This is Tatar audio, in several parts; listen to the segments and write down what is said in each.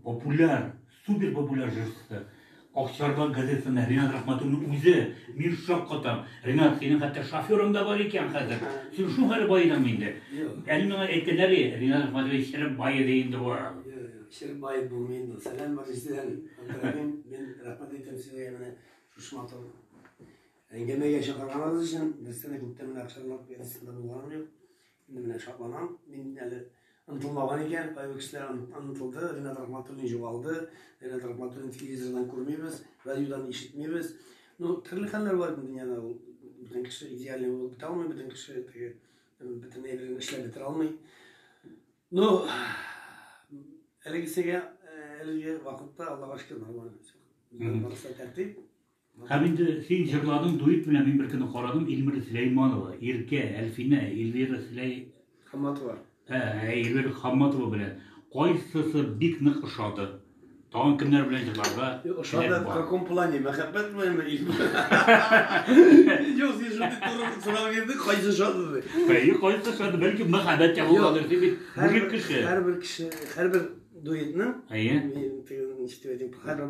Популяр, супер популяр җырчысы. Акчарлак газетасында Ренат Рахматуллин үзе, мин шаккатам. Ренат, синең хәтта шоферың да бар икән хәзер. Син шул хәле баедыңмы инде? Әле миңа әйткәннәр ди, Ренат Рахматуллин череп баеды инде бу. Череп баеп булмый инде. Сәлам бар җитән. Абдурахим, мин рәхмәт әйтәм сезгә менә шушы матур әңгәмәгә чакырганыгыз өчен. Без сәне күптән генә Акчарлак газетасында булганым юк. Менә белән шатланам. Мин әле онытылмаган икән, кайбер кешеләр онытылды, Ринат Рахматуллин җугалды, Ринат Рахматуллин телевизордан күрмибез, радиодан ишетмибез. Ну, төрле хәлләр бар бу дөньяда. Бөтен кеше идеальный булып бетә алмый, бөтен кеше теге бөтен әйберен эшләп бетерә алмый. Ну, әлегесегә, әлеге вакытта Аллага шөкер, нормально. Барысы тәртип. Һәм инде син җырладың дуэт белән мин беркөнне карадым Ильмира Сөләйманова, Иркә, Әлфинә, Ильвира Сөләй... Хамматова. Ә, Ильвира Хамматова белән. Кайсысы бик нык ошады? Тагын кемнәр белән җырларга теләк бар? Ошады в каком плане? Мәхәббәт беләнме? Юк, син шундый туры сорау бирдең, кайсы ошады ди. Әйе, кайсы ошады? Бәлки мәхәббәт ягындадыр, син бит мужик кеше. Һәрбер кеше, һәрбер дуэтның, әйе, ничек дип әйтим, һәрбер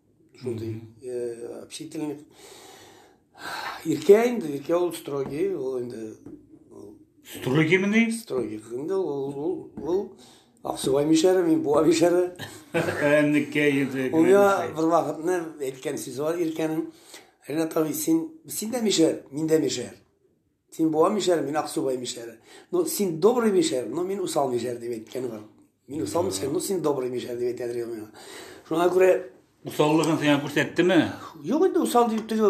Шундый э, общительный. Иркә инде, Иркә ул строгий, ул инде Строгий мени? Строгий. Инде ул ул ул Аксубай мишәре, мин буа мишәре. Әннекә иде. Ул я бер вакытны әйткән сүзе бар Иркәнең. Ренат абый, син син дә мишәр, мин дә мишәр. Син буа мишәр, мин Аксубай мишәре. Ну, син добрый мишәр, ну, мин усал мишәр дип әйткән бар. Мин усал мишәр, ну, син добрый мишәр дип әйтә торган миңа. Шуңа күрә... Усаллыгын сиңа күрсәттеме? Юк инде, усал дип тел...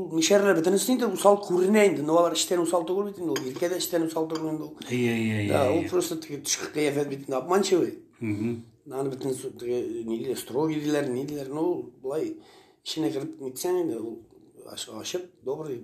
Мишәрләр бөтенесе инде усал күренә инде. Ну, алар эштән усал түгел бит инде. Ул иркә дә эштән усал түгел инде. Әйе, әйе, әйе. Да, ул просто теге төшке кыяфәт бит инде, обманчивый. Аны бөтен теге ниле строгий диләр, ни диләр. Ну, былай, эченә кереп нитсәң инде, ул ашык, добрый,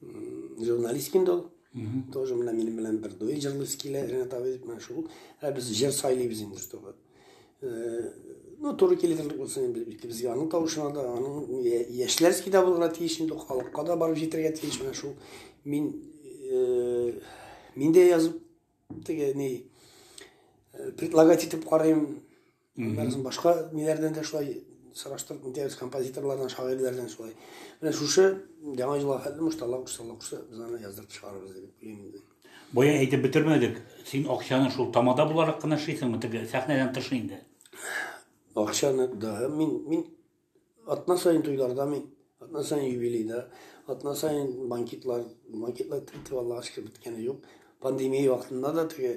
журналист инде ул тоже менә минем белән бер дуй җырлыйсы килә ренат абый дип менә шул ә без җыр сайлыйбыз инде чтобы э, ну туры килерлек булсын инде икебезгә аның тавышына да аның яшьләрский да булырга тиеш инде халыкка да барып җитәргә тиеш менә шул мин э, мин дә язып теге ни э, предлагать итеп карыйм Аннан соң башка ниләрдән дә шулай сораштырып үтәбез, композиторлардан, шагыйрьләрдән шулай. Менә шушы яңа елга хәтле муштала кушса, кушса, без аны яздырып чыгарабыз дип уйлыйм инде. Бая әйтеп бетермәдек. Син акчаны шул тамада буларак кына эшлисеңме, теге сәхнәдән тыш инде? Акчаны да мин мин Атна сайын туйларда мин, атна сайын юбилейда, атна сайын банкетлар, банкетлар тетеп Аллага шөкер беткәне юк. Пандемия вакытында да теге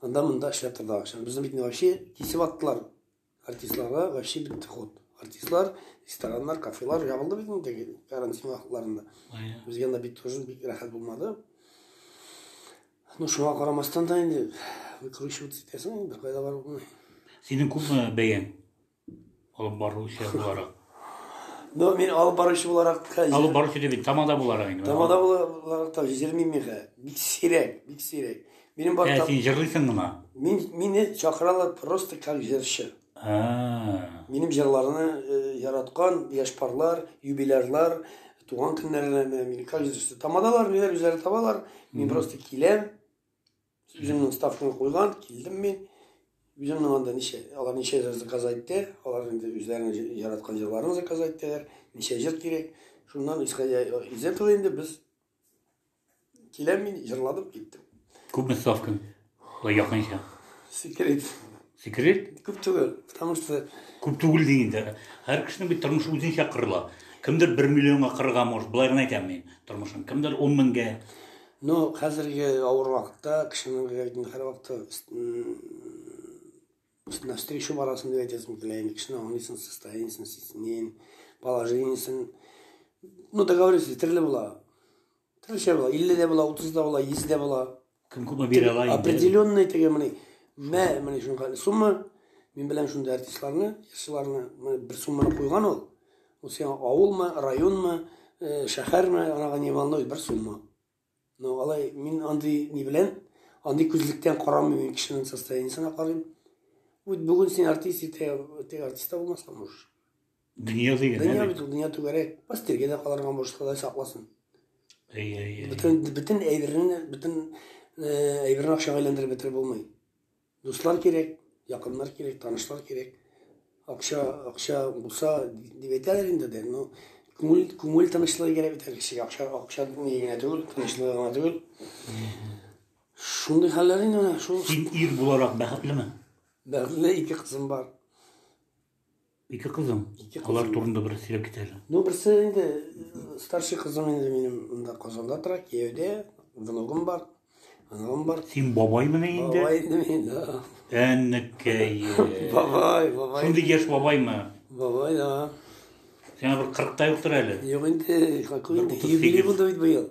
анда монда эшләп торды акча. Безне бит вообще кисеп аттылар. Артистларга вообще бетте ход. Артистлар, рестораннар, кафелар ябылды бит инде карантин вакытларында. Безгә дә бит тоже бик рәхәт булмады. Ну, шуңа карамастан да инде выкручиваться итәсең, бер кайда барып булмый. Синең күпме бәяң? Алып баручы буларак. Ну, мин алып баручы буларак та... Алып баручы дебит, тамада буларак инде. Тамада буларак та җырлыйм мин хә. Бик сирәк, бик сирәк. Минем бар... Ә, син җырлыйсың гына? Мин, мине чакыралар просто как җырчы. Минем җырларны э, яраткан яшь парлар, юбилярлар, туган көннәренә мин как җырчы. Тамадалар, ниләр үзләре табалар. Мин просто киләм, Үземнең ставканы куйган, килдем мин. Үземнең анда ничә, алар ничә җыр заказ итте, алар инде үзләренең яраткан җырларын заказ иттеләр, ничә җыр кирәк. Шуннан исходя из этого инде без киләм мин, җырладым, киттем. Күпме ставка? Ой, якынча. Секрет. Секрет? Күп түгел, потому что... Күп түгел дигәндә, һәр кешенең бит тормышы үзенчә кырыла. Кемдер 1 миллионга кырыга может, былай гына әйтәм мин тормышын. Кемдер 10 меңгә. Ну, хәзерге авыр вакытта кешенең гәйдин һәр вакытта навстречу барасын дип әйтәсем килә инде. Кешене аңлыйсың, состояниесен, сисенен, положениесен. Ну, договориться, төрле була. Төрлечә була. 50 дә була, 30 да була, 100 дә була. Кем күпме бирә ала инде. Определенный теге менә мә менә шуңа сумма мин белән шундый артистларны, җырчыларны бер сумманы куйган ул. Ул сиңа авылмы, районмы, шәхәрме, анага не волнует, бер сумма. Но алай мин андый ни белән, андый күзлектән карамыйм, мин кешенең состояниесенә карыйм. Үт бүген син артист, иртә теге артист та булмаска можешь. Дөнья дигән. Дөнья бит ул, дөнья түгәрәк. Пастиргә дә калырга можешь, Ходай сакласын. Әй, әй, әй. Бөтен бөтен әйберне, бөтен әйберне акчага әйләндереп бетереп булмый. Дуслар кирәк, якыннар кирәк, танышлар кирәк. Акча, акча булса дип әйтәләр инде дә, но күңел, күңел тынычлыгы кирәк бит кешегә. Акча, акча ни генә түгел, тынычлыгы гына түгел. Шундый хәлләр инде менә шул. Син ир буларак бәхетлеме? Бәхетле ике кызым бар. Ике кызым. Ике кызым. Алар турында бераз сөйләп кит әле. Ну, берсе инде э, старший кызым инде минем монда Казанда тора, кияүдә, внугым бар. Внугым бар. Син бабаймыны инде? Бабай инде мин, да. Әннекәй. Бабай, бабай. Шундый яшь бабаймы? Бабай, да. Сиңа бер 40 та юктыр әле. Юк инде, какой инде, юбилей булды бит быел.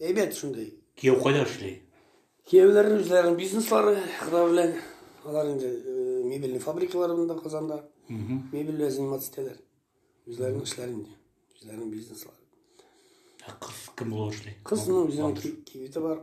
Әйбәт шундый. Кияү кайда эшли? Кияүләрнең үзләренең бизнеслары, кызлар белән алар инде э, мебельный фабрикалары монда Казанда. Мебель белән заниматься итәләр. Үзләренең эшләре инде, үзләренең бизнеслары. Ә кыз кем булып эшли? Кыз ну, үзенең кибете бар.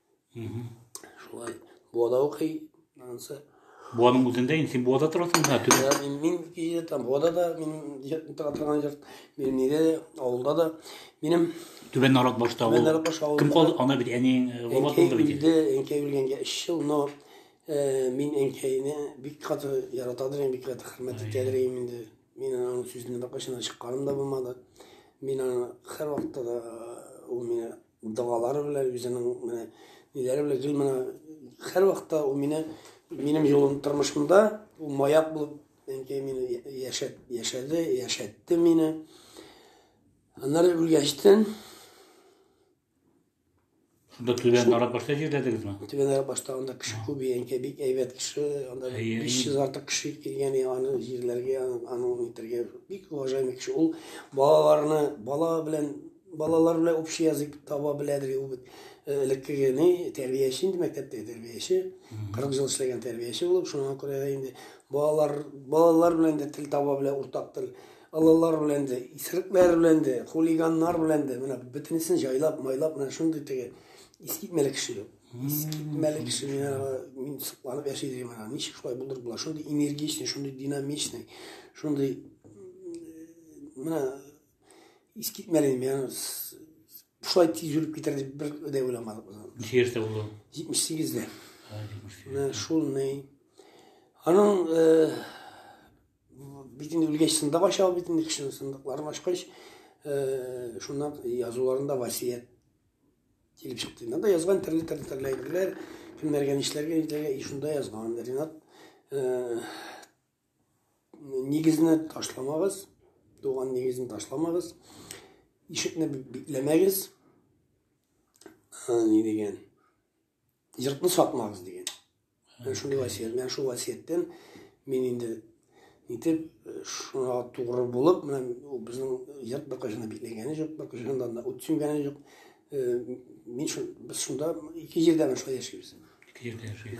Шулай. Буада укый. Ансы. Буаның үзендә инде син буада торасың да түбә. Я мин мин кие там буада да мин торган җир. Мин нидә авылда да минем Түбән Нарат башта ул. Түбән Нарат баш авылында. Кем калды? Ана бит әниең э, вафат булды бит. Инде әнкәй үлгәнгә 3 ел, но э, мин әнкәйне бик каты яратадыр, бик каты хөрмәт итәдер инде. Мин аның сүзеннән башына чыкканым да булмады. Мин аны һәр вакытта да э, ул мине Догалары белән үзенең менә ниләре белән гел менә һәрвакытта ул мине минем юлым тормышымда ул маяк булып әнкәй мине яшәт, яшәде, яшәтте мине. Аннары үлгәчтен Шунда Түбән Нарат башта җирләдегезме? Түбән Нарат башта анда кеше күп, әнкәй бик әйбәт кеше, анда 500 артык кеше килгән, аны җирләргә, аны итәргә бик уважаемый кеше. Ул балаларны, бала белән Балалар белән общий язык таба беләдер ул бит. Э, элеккеге ни, тәрбияче инде мәктәптәге тәрбияче. 40 ел эшләгән тәрбияче булып, шуңа күрә дә инде балалар балалар белән дә тел таба белә, уртак тел. Алалар белән дә, исерекләр белән дә, хулиганнар белән дә, менә бөтенесен җайлап, майлап, менә шундый теге искитмәле кеше юк. Искитмәле кеше мин сокланып яши дим, менә ничек шулай булдырып була, шундый энергичный, шундый динамичный, шундый э, менә Искитмәлим, я шулай тиз үлеп китәр дип бер дә уйламадык без. Ничә яшьтә булды? 78-дә. Менә шул ни. Аның э, бит инде үлгәч сындык ача бит инде кеше сындыкларын ачкач, э, шуннан язуларында васият килеп чыкты. Нанда язган төрле төрле төрле әйберләр, кемнәргә нишләргә, нишләргә, и шунда язган. Ренат э, Нигезне ташламагыз, туган нигезне ташламагыз. Ишекне бикләмәгез. Ни дигән? Йортны сатмагыз дигән. Менә шундый васият. Менә шул васияттән мин инде нитеп шуңа тугры булып, менә безнең йорт бакыжына бикләгәне юк, бакыжында да ут сүнгәне юк. Мин шул без шунда ике җирдә шулай яшибез. Ике җирдә яшибез.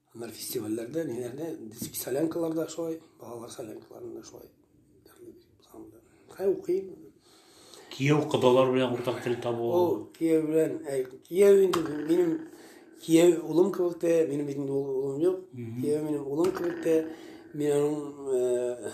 Һөнәр фестивальләрдә, ниләрдә, диск солянкаларда шулай, балалар солянкаларында шулай. Хәй укыйм. Кияү кодалар белән уртак тел табу. Ул кияү белән, кияү инде минем кияү улым кебек тә, минем бит инде улым юк. Кияү минем улым кебек тә, мин аның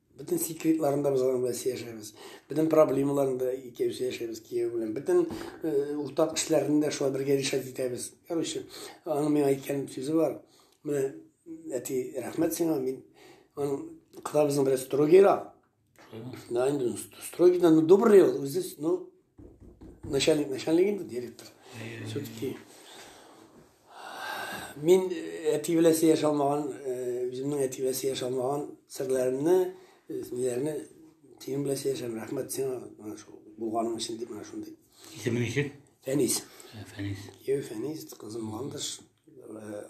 Бөтен секретларында без аның белән сөйләшәбез. Бөтен проблемаларында икәү сөйләшәбез кияү белән. Бөтен э, уртак эшләрендә шулай бергә решать итәбез. Короче, аның миңа әйткән сүзе бар. Менә әти, рәхмәт сиңа, мин аның кыда безнең белән строгийрак. Да, инде строгийдан ну, добрый ул, үзе, ну, Начальник, начальник инде директор. Все-таки мин әти белән сөйләшә алмаган, үземнең әти белән сөйләшә алмаган серләремне, ниләрне синең белән сөйләшәм. Рәхмәт сиңа менә шул булганың өчен дип менә шундый. Исемең ничек? Фәнис. Фәнис. Кияү Фәнис, кызым Мандыш,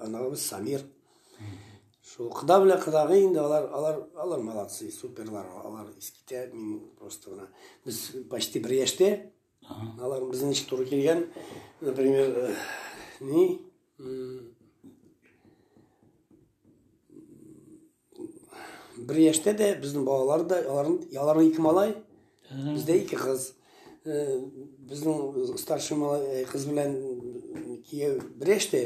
аналыбыз Самир. Шул кода белән кодагый инде алар алар алар молодцы, суперлар, алар искитә мин просто гына. Без почти бер яшьтә. Алар безнең ничек туры килгән, например, э, ни бер яшьтә дә безнең балалар да аларның аларның ике малай, Бездә ике кыз. Э, безнең старший малай э, кыз белән э, кияү бер яшьтә.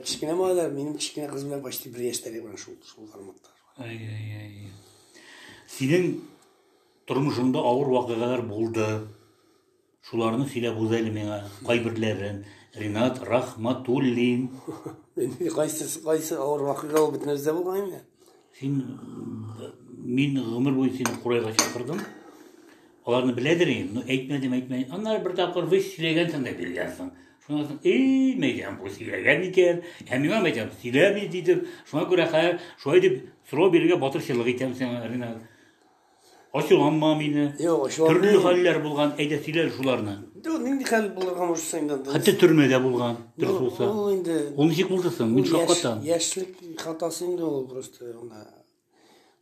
Кечкенә малайлар минем кечкенә кыз белән почти бер яшьтә генә шул шул форматта. Ай ай ай. Синең тормышыңда авыр вакыйгалар булды. Шуларны сөйләп үз әле миңа кайберләрен. Ринат Рахматуллин. Инде кайсы кайсы авыр вакыйга ул бөтенебездә булган инде. Син мин гомер буе сине курайга чакырдым. Аларны беләдер инде, но әйтмәдем, әйтмәдем. Аннары бер тапкыр вы сөйләгәнсең дә биргәнсең. Шуңа соң, эй, мәйдан бу сөйләгән икән. Ә миңа мәйдан сөйләми дидем. Шуңа күрә хәзер шулай дип сорау бирергә батырчылык итәм сиңа, Ринат. Ачуланма мине. Юк, ачуланма. Төрле хәлләр булган, әйдә сөйлә шуларны. Дөрес, нинди хәл булырга мөмкин инде. Хәтта төрмәдә булган, дөрес булса. Ул инде. Ул ничек булды соң? Мин шаккатам. Яшьлек хатасы инде ул просто анда.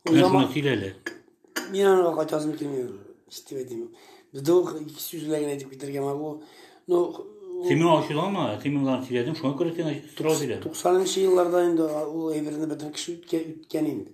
Менә шуны сөйләле. Мин аны кайтасым килми. Ситеп әйтим. Бездә ул ике сүз белән генә әйтеп китәргә могу. Ну, Син миңа ачуланма, син миңа сөйләдең, шуңа күрә сиңа сорау бирәм. 90 нчы елларда инде ул әйберне бөтен кеше үткән инде.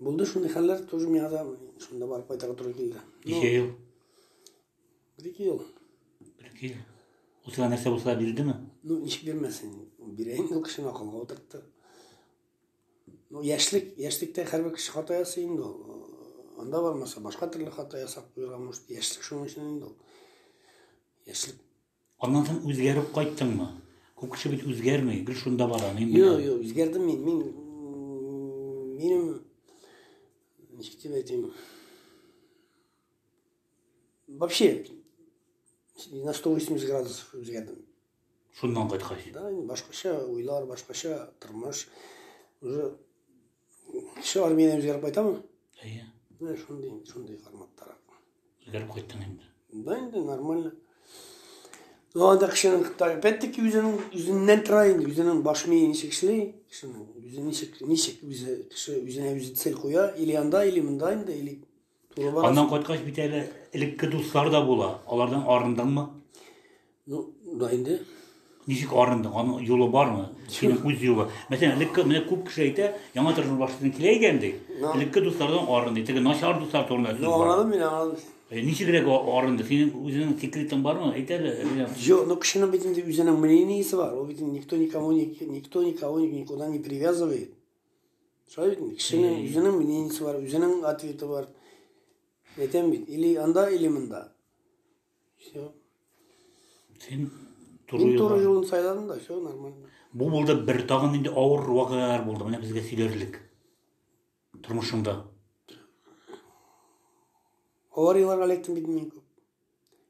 Булды шундый хәлләр, тоже миңа да шунда барып кайтарга туры килде. Ничә ел? Бер-ике ел. Бер-ике ел. Ул сиңа нәрсә булса бирдеме? Ну, ничек бирмәсен? Бирә инде ул кешене акылга утыртты. Ну, яшьлек, яшьлектә һәрбер кеше хата ясый инде ул. Анда бармаса, башка төрле хата ясап куярга может. Яшьлек шуның өчен инде ул. Яшьлек Аннан соң үзгәреп кайттыңмы? Күп кеше бит үзгәрми, гел шунда бара. Мин Юк, юк, үзгәрдем мин. Мин минем ничек дип әйтим? Вообще на 180 градусов үзгәрдем. Шуннан кайткач. Да, башкача уйлар, башкача тормыш. Уже Кеше армияне үзгәреп кайтамы? Әйе. Менә шундый, шундый форматтарак. Үзгәреп кайттың инде. Да инде нормально. Ну, анда кешенең, опять-таки, үзенең, үзеннән тора инде, үзенең баш мие ничек эшли, кешенең, үзе ничек, ничек, үзе, кеше үзенә үзе цель куя, или анда, или монда инде, или Аннан кайткач бит әле элекке дуслар да була. Алардан арындыңмы? Ну, да инде. Ничек арындың? Аның юлы бармы? Синең үз юлы. Мәсәлән, элекке менә күп кеше әйтә, яңа тормыш башласаң килә икән ди. Элекке дуслардан арынды. Теге начар дуслар турында сүз бар. Аңладым мин, аңладым. Э, ничегрәк арынды? Синең үзеңнең секретың бармы? Әйт әле. Юк, ну кешенең бит инде үзенең мнениесе бар. Ул бит никто никому никто никого никуда не привязывает. Шулай бит, кешенең үзенең мнениесе бар, үзенең ответы бар. Әйтәм бит, или анда, или монда. Все. Син туры Мин туры юлын сайладым да, все нормально. Бу булды бер тагын инде авыр вакыйгалар булды. Менә безгә сөйләрлек. Тормышыңда. Аварияләргә эләктем бит мин күп.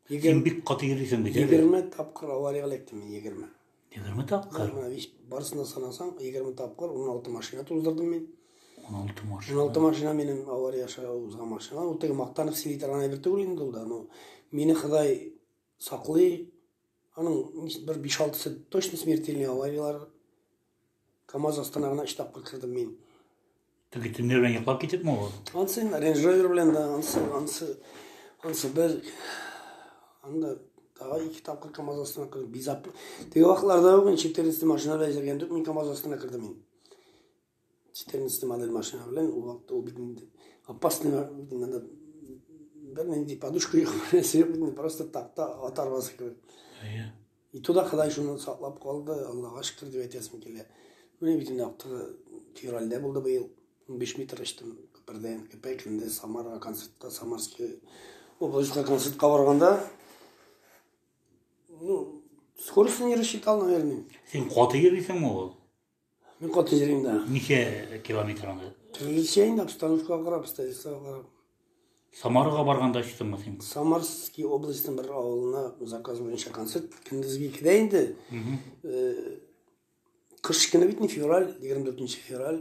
Син бик каты йөрисең бит. Егерме тапкыр авария эләктем мин, егерме. Егерме тапкыр? Барысына санасаң, егерме тапкыр, он алты машина туздырдым мин. Он алты машина? Он алты машина менен авария аша узган машина. Ул теге Мактанов сили торган әйбер түгел инде ул да, но мине Ходай саклый. Аның бер биш алтысы точно смертельный авариялар Камаз астына гына өч тапкыр кердем мин. Теге төнлә белән йоклап китепме ул? Ансы Range Rover белән дә, ансы, ансы, ансы бер, анда тагы ике тапкыр КАМАЗ астына кердем. Бизап. Теге вакытларда ук 14 машина белән йөргән идек, мин КАМАЗ астына кердем мин. 14 модель машина белән ул вакытта ул бит инде опасный бит инде бер нинди подушка юк, нәрсә юк бит инде, просто такта ат арбасы кебек. И туда Ходай шуны саклап калды, Аллага шөкер дип әйтәсем килә. Менә бит инде актыгы февральдә булды быел. 15 метр очтым күпердән, Кепәк, инде Самарга концертка, Самарский областька концертка барганда, ну, скоростен не рассчитал, наверное. Син каты йөрисеңме ул? Мин кат йөрим дә. Ничә километр анда? Төрлечәйн обстановкага карап, обстоятельствога карап. Самарага барганда очтыңмы син? Самарский областьның бер авылына заказ буенча концерт көндезге икедә инде. Кыш көне бит не февраль, 24 февраль.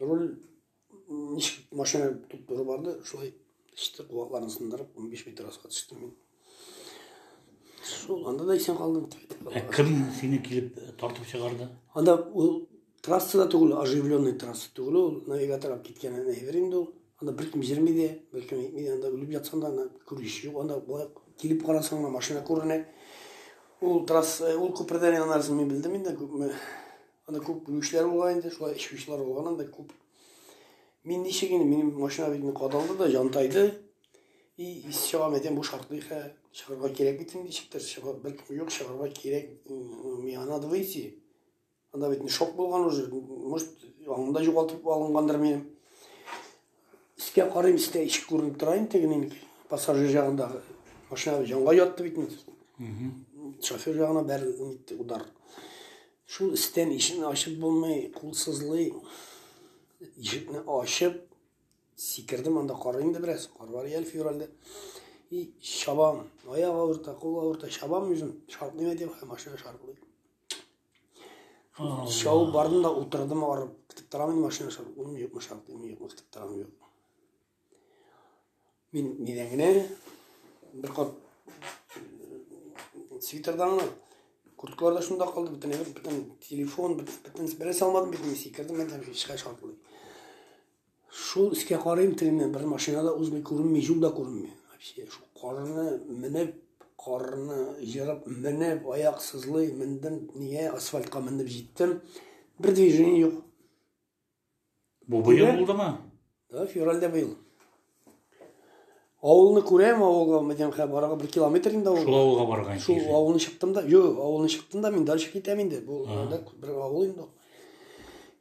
Руль ничек машина туп-туры барды, шулай иште кулакларын сындырып, 15 метр аска төштем мин. Шул анда да исән калдым. Ә кем сине килеп э, тартып чыгарды? Анда ул трасса да түгел, оживленный трасса түгел, ул навигатор алып киткән әйбер инде ул. Анда беркем йөрми дә, беркем әйтми дә, анда үлеп ятсаң да, анда күреш юк, анда болай килеп карасаң да машина күренә. Ул трасса, э, ул күпердән янасын мин белдем инде, күпме Анда күп бүлүчләр булган инде, шулай эчкүчләр булган анда күп. Мин ничек инде, минем машина бит кадалды да, җантайды. И, ис чыгам әйтәм, бу шартлый хә, чыгарга кирәк бит инде, ничектер чыгар, бер юк чыгарга кирәк, миңа надо выйти. Анда бит шок булган уже, может, аңында югалтып алынгандыр минем. Искә карыйм, искә ишек күренеп тора инде тегенең пассажир ягындагы машина җанга ятты бит инде. Шофер ягына бәр нитте удар. Шул истән ишекне ачып булмый, кул сызлый. Ишекне ачып сикердем анда кар инде бераз, кар бар ял февральдә. И шабам, аяк авырта, кул авырта, шабам үзем, шартлыйм әйтәм, машина шартлый. Шау бардым да утырдым арып. Көтеп торам машина шау. Ун юкмы шау, ун юкмы көтеп торам юк. Мин нидән генә бер кат свитердамы, курткалар да шунда калды, бөтен бөтен телефон, бөтен берсе алмадым бит мин сикердем, мен һәм һичкә шатлый. Шул өскә карыйм, тегене бер машина да узмый, күренми, юл да күренми. Вообще, шул карны менеп, карны җырып менеп, аяк сызлый, мендем, нигә асфальтка мендем җиттем. Бер движение юк. Бу быел булдымы? Да, февральдә быел. Авылны күрәм, авылга Мәдинәхә барага бер километр инде авыл. Шул авылга барган Шул кире. авылны чыктым да, юк, авылны чыктым да, мин дальше китәм инде. Бу анда бер авыл инде. ул.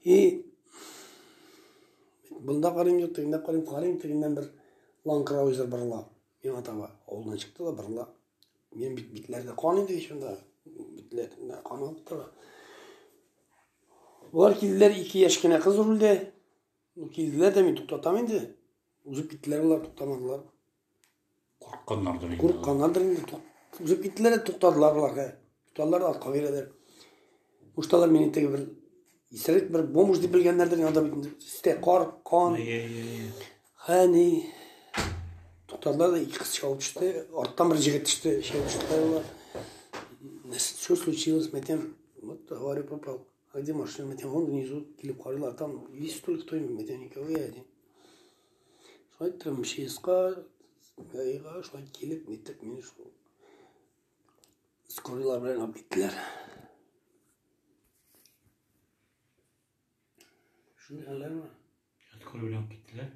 И бында карыйм, юк, тегендә карыйм, карыйм, тегеннән бер ланкраузер бырла. Миңа таба авылдан чыкты да бырла. Мин бит битләрдә кан иде шунда. Битләрдә кан алып тора. Болар килделәр, ике яшь кенә кыз үрелде. Ну, килделәр дә мин туктатам инде. Узып киттеләр алар, туктамадылар. Курыкканнардыр инде. Курыкканнардыр инде. Узып киттеләр, туктадылар алар. Туктадылар, артка бирәләр. Мушталар мине теге бер исерек бер бомж дип белгәннәрдер, анда бит өстә кар, кан. Хәни туктадылар да ике кыз чыгып төште. Арттан бер җегет төште, чыгып төште. Что случилось, Мәтәм? Вот, говорю, попал. А где машина? Мы тебя вон внизу килеп карыйлар. Там есть столько кто мы тебя не говорили. Шулай иттерем, МЧСка, ГАИга, шулай килеп, итеп, мені шул. Скорыйлар белән алып киттеләр. Шуны хәлләрме? Скорый белән алып киттеләр.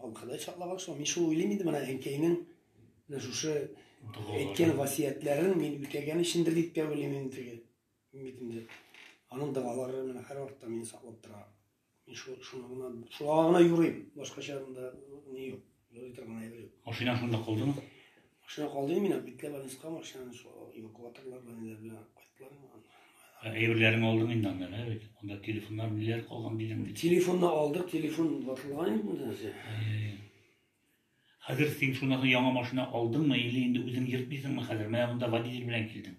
Аңкыдай чатлаган шул. Мин шул уйлыйм инде менә әнкәйнең менә шушы әйткән васыятьләрен мин үтәгән өчендер дип тә уйлыйм инде теге. Бит инде аның дәвалары менә һәрвакытта мине саклап тора. Мин шул шуны гына шуңа гына юрыйм. Башкача анда ни юк. Юрый торган әйбер юк. Машина шунда калдымы? Машина калды мина, битле больницага машинаны шул эвакуаторлар белән ниләр белән алып кайттылар инде аны. Ә Әйберләрен алдың инде анда, ә бит. Анда телефоннар ниләр калган дидең бит. Телефонны алдык, телефон ватылган инде бу нәрсә. Әй. Хәзер син шуннан соң яңа машина алдыңмы или инде үзең йөртмисеңме хәзер? Менә монда водитель белән килдең.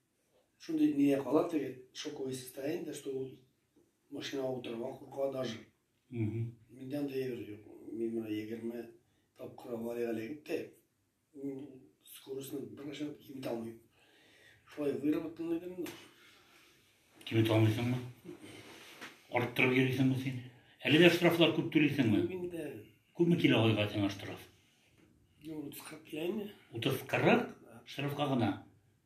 Шундый мия кала теге шоковое состояние, что ул машинага утырырга курка даже. Миндә андый әйбер юк. Мин менә егерме тапкыр авариягә эләгеп тә, мин скоростьны беркайчан киметә алмыйм. Шулай выработанный идем инде. Киметә алмыйсыңмы? Арттырып йөрисеңме син? Әле дә штрафлар күп түлисеңме? Мин дә. Күпме килә айга сиңа штраф? Юк, утыз кырык килә инде. Утыз кырык? Штрафка гына.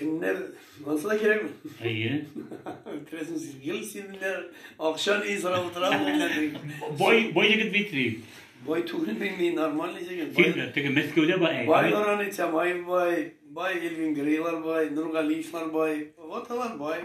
Кемнәр булса да кирәк. Әйе. Керәсең син, гел син менә акча ни сорап утырам менә. Бай, бай егет бит ди. Бай түгел мин, мин нормальный егет. Син дә теге Мәскәүдә бай. Бай Нурани Тямаев бай, бай Эльвин Грейлар бай, Нургалиевлар бай, вот алар бай.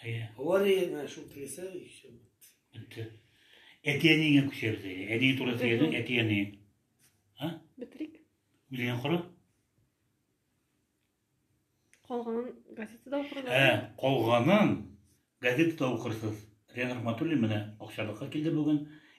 Әйе. Авариягә шул теләсә ишем. Бетте. Әти-әниеңә күчәбез әйе. Әниең турында сөйләдең, әти-әни. А? Бетрик. Үзеңә кара. Калганын газетада укырга. Ә, калганын газетада укырсыз. Рен Рахматуллин менә акчалыкка килде бүген.